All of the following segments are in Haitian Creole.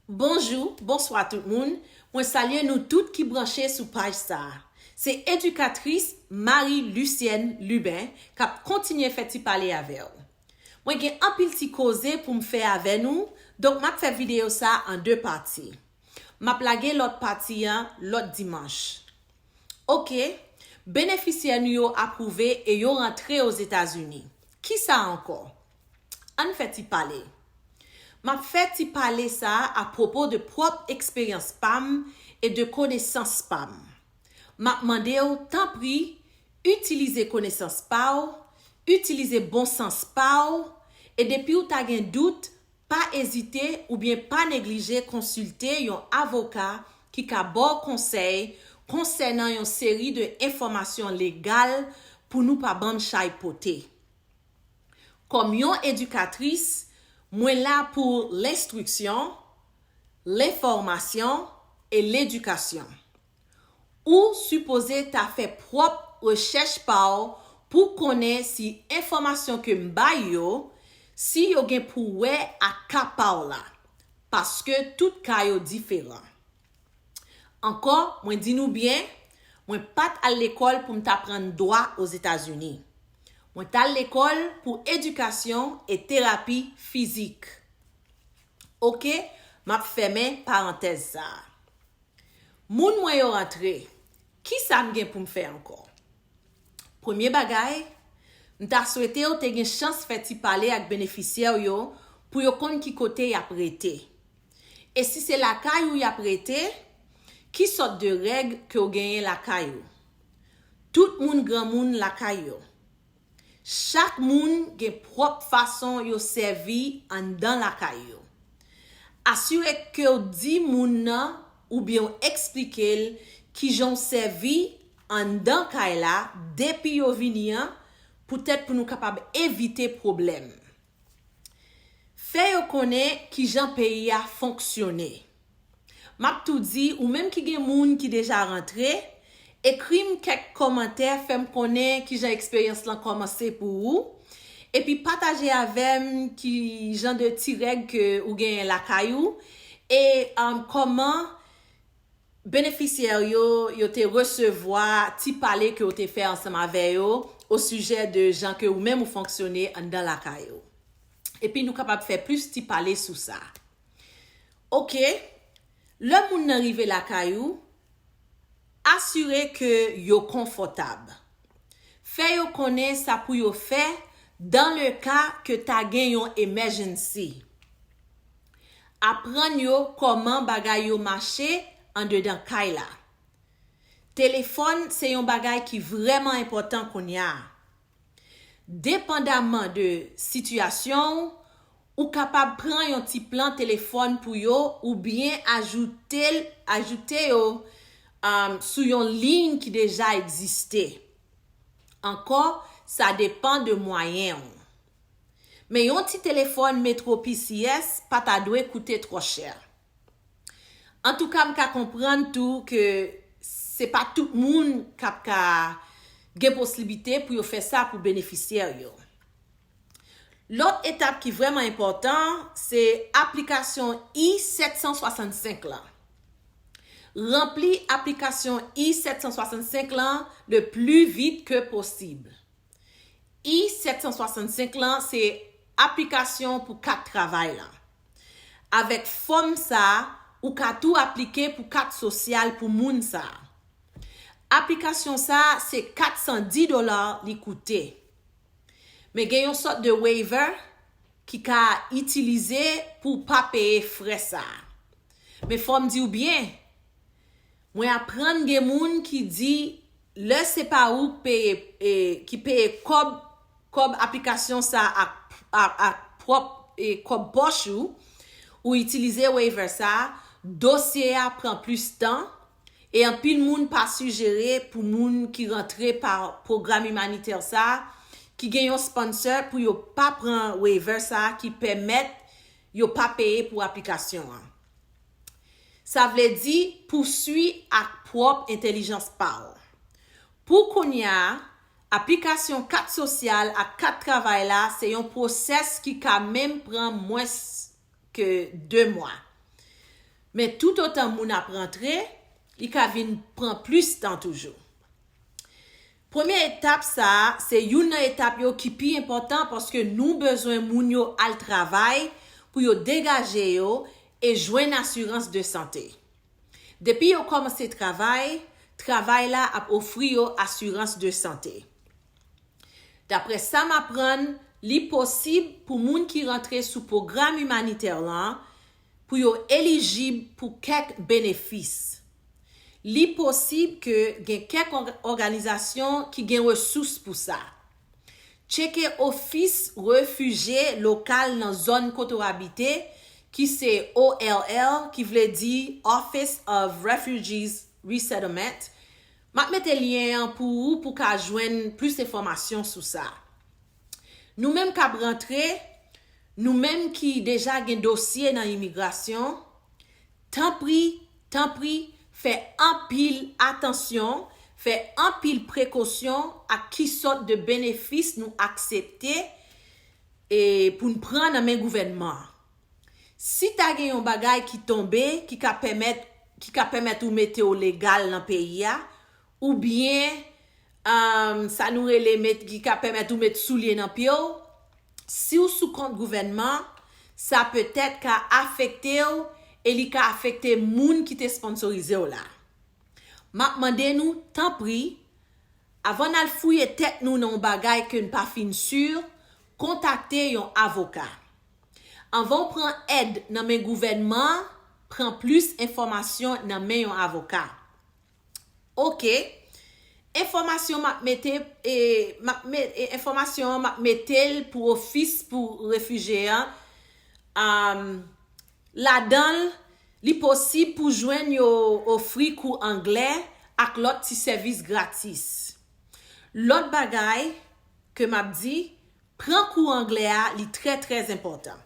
Bonjou, bonswa tout moun, mwen salye nou tout ki branche sou paj sa a. Se edikatris Marie Lucienne Lubin k ap kontinye fè ti pale avè w. Mwen gen anpil ti koze pou m fè avè nou, donk m ap fè videyo sa a an 2 pati. M ap lage lòt pati an lòt dimanch. Ok, benefisyè nou yo apwouve e yo rantre Ozetazini. Kisa ankò? Ann fè ti pale. M ap fè ti pale sa a apwopo de pwòp eksperyans pa m e de konesans pa m. M ap mande w, tanpri, itilize konesans pa w, itilize bon sans pa w, e depi w ta gen dout, pa ezite oubyen pa neglije konsilte yon avoka ki ka ba w konsèy konsènan yon seri de enfòmasyon legal pou nou pa bann chay pote. Kòm yon edikatris, mwen la pou lenstriksyon, lenfòmasyon e ledikasyon. Ou sipoze ta fè pwòp rechèch pa w pou w konnen si enfòmasyon ke m bay yo, si yo gen pou wè ak ka pa w la, paske tout ka yo diferan. Ankò, mwen di nou byen, mwen pa t al lekòl pou m t aprann dwa Ozetazini. Mwen t al lekòl pou edikasyon e terapi fizik. Oke, m ap fèmen parantèz sa a. Moun mwen yo rantre, ki sa m gen pou m fè ankò? Premye bagay, m ta swete w te gen chans fè ti pale ak benefisyè w yo pou yo konn ki kote y ap rete. E si se lakay ou yap rete, ki sòt de règ ke w genyen lakay ou? Tout moun granmoun lakay yo. Chak moun gen pwòp fason yo sèvi anndan lakay yo. Asire ke w di moun nan oubyen w eksplike l kijan w sèvi anndan kay la depi yo vini an poutèt pou nou kapab evite pwoblèm. Fè yo konnen kijan peyi a fonksyone. M ap tou di ou menm ki gen moun ki deja rantre, ekri m kèk kòmantè fè m konnen kijan eksperyans lan kòmanse pou ou, epi pataje avè m ki jan de ti règ ke ou genyen lakay ou e kòman Benefisyè yo yo te resevwa ti pale ke w te fè ansanm avè yo osijè de jan ke ou menm ou fonksyone anndan lakay ou. Epi nou kapab fè plis ti pale sou sa. Ok, lè moun nan rive lakay ou, asire ke yo konfòtab. Fè yo konnen sa pou yo fè dan le ka ke ta gen yon emèjennsi. Aprann yo kòman bagay yo mache andedan kay la. Telefòn se yon bagay ki vrèman enpòtan kounya. Depandaman de sitiyasyon ou, ou kapab pran yon ti plan telefòn pou yo oubyen ajoute ajoute yo sou yon liy ki deja egziste. Ankò, sa depan de mwayen ou. Men yon ti telefòn Metro PCS pa ta dwe koute twò chè. Antouka m ka konprann tou ke se pa tout moun k ap ka gen poslibite pou yo fè sa pou benefisyè yo. Lòt etap ki vrèman enpòtan se aplikasyon I-765 lan. Ranpli aplikasyon I-765 lan le pli vit ke posib. I. 765 lan se aplikasyon pou kat travay lan. Avèk fòm sa a, ou ka tou aplike pou kat sosyal pou moun sa a. Aplikasyon sa a se 410 dola li koute. Men gen yon sòt de waiver ki ka itilize pou w pa peye frè sa a. Men fò m di w byen, Mwen aprann gen moun ki di lè se pa ou k peye ki peye kòb kòb aplikasyon sa ak pwòp kòb pòch ou, ou itilize waiver sa, dosye a pran plis tan, e anpil moun pa sijere pou moun ki rantre pa pwogram imanitè sa ki gen yon sponsor pou yo pa pran waiver sa ki pèmèt Yo pa peye pou aplikasyon an. Sa vle di pousui ak pwòp entelijans pa w. Pou kounya, aplikasyon kat sosyal ak kat travay la se yon pwosès ki ka menm pran mwens ke 2 mwa. Men toutotan moun ap rantre, li ka vin pran plis tan toujou. Premye etap sa a se youn nan etap yo ki pi enpòtan paske nou bezwen moun yo al travay pou yo degaje yo e jwenn asirans de sante. Depi yo kòmanse travay, travay la ap ofri yo asirans de sante. Daprè sa m aprann, li posib pou moun ki rantre sou pwogram imanitè lan, pou yo elijib pou kèk benefis. Li posib ke gen kèk òganizasyon ki gen resous pou sa. Tcheke ofis refije lokal nan zòn kote w abite ki se ORR ki vle di Office of Refugees Resettlement. M ap mete lyen an pou ou pou ka jwenn plis enfòmasyon sou sa. Nou menm k ap rantre, nou menm ki deja gen dosye nan imigrasyon, tanpri, tanpri, fè anpil atansyon, fè anpil prekosyon ak ki sòt de benefis nou aksepte pou n pran nan men gouvènman an. Si ta gen yon bagay ki tonbe ki ka pèmèt ou mete w legal nan peyi a, Oubyen, umm, sa nou rele met, ki ka pèmèt ou met soulye nan pye w, si w sou kont gouvènman, sa petèt ka afekte w e li ka afekte moun ki te sponsorize w la. M ap mande nou, tanpri, avan n al fouye tèt nou nan yon bagay ke n pa fin sur, kontakte yon avoka. Anvan w pran èd nan men gouvènman, pran plis enfòmasyon nan men yon avoka. Ok Enfòmasyon map mete e enfòmasyon an map metel pou ofis pou refije an um ladanl li posib pou jwenn yo ofri kou anglè ak lòt ti sèvis gratis. Lòt bagay ke map di Pran kou anglè a li trè trè enpòtan.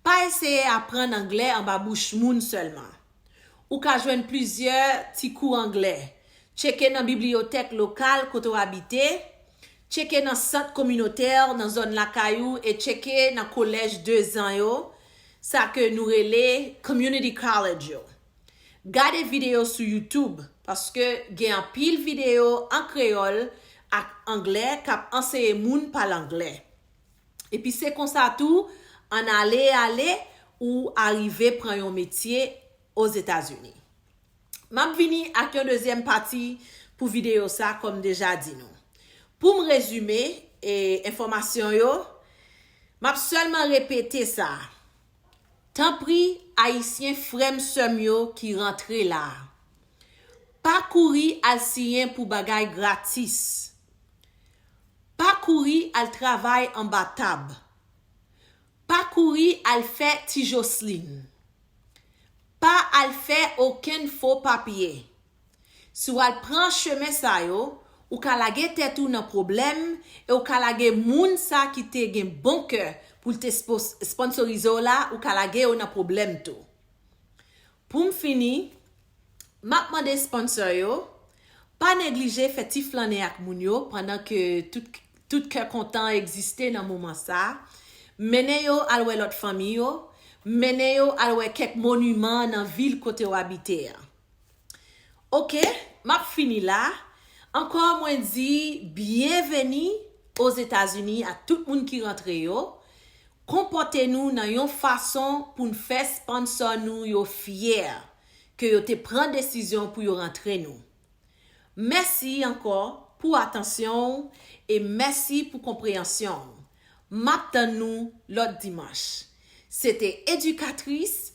Pa eseye aprann anglè anba bouch moun sèlman. Ou ka jwenn plizyè ti kou anglè. Tcheke nan bibliyotèk lokal kote w abite, tcheke nan sant kominotè nan zòn lakay ou e tcheke nan kolèj dezan yo, sa ke nou rele Community College yo. Gade videyo sou YouTube paske gen anpil videyo an kreyòl ak anglè k ap anseye moun pale anglè. Epi se konsa tou an ale ale ou arive pran yon metye Ozetazini. M ap vini ak yon dezyèm pati pou videyo sa kòm m deja di nou. Pou m rezime enfòmasyon yo, m ap sèlman repete sa, Tanpri ayisyen frèm sèm yo ki rantre la pa kouri al siyen pou bagay gratis pa kouri al travay anba tab pa kouri al fè ti joslin pa al fè okenn fo papye Si w al pran chemen sa yo, ou ka lage tèt ou nan pwoblèm e w ka lage moun sa ki te gen bon kè pou l te sponsorize w la, ou ka lage yo nan pwoblèm tou. Pou m fini, m ap mande sponsor yo, pa neglije fè ti flannen ak moun yo pandan ke tout kè kontan egziste nan moman sa, mennen yo al wè lòt fanmi yo, mennen yo al wè kèk moniman nan vil kote w abite an. Ok map fini la Ankò mwen di byenveni Ozetazini a tout moun ki rantre yo Konpòte nou nan yon fason pou n fè sponsor nou yo fyè ke yo te pran desizyon pou yo rantre nou Mèsi ankò pou atansyon w e mèsi pou konpreyansyon w Map tann nou lòt dimanch Se te edikatris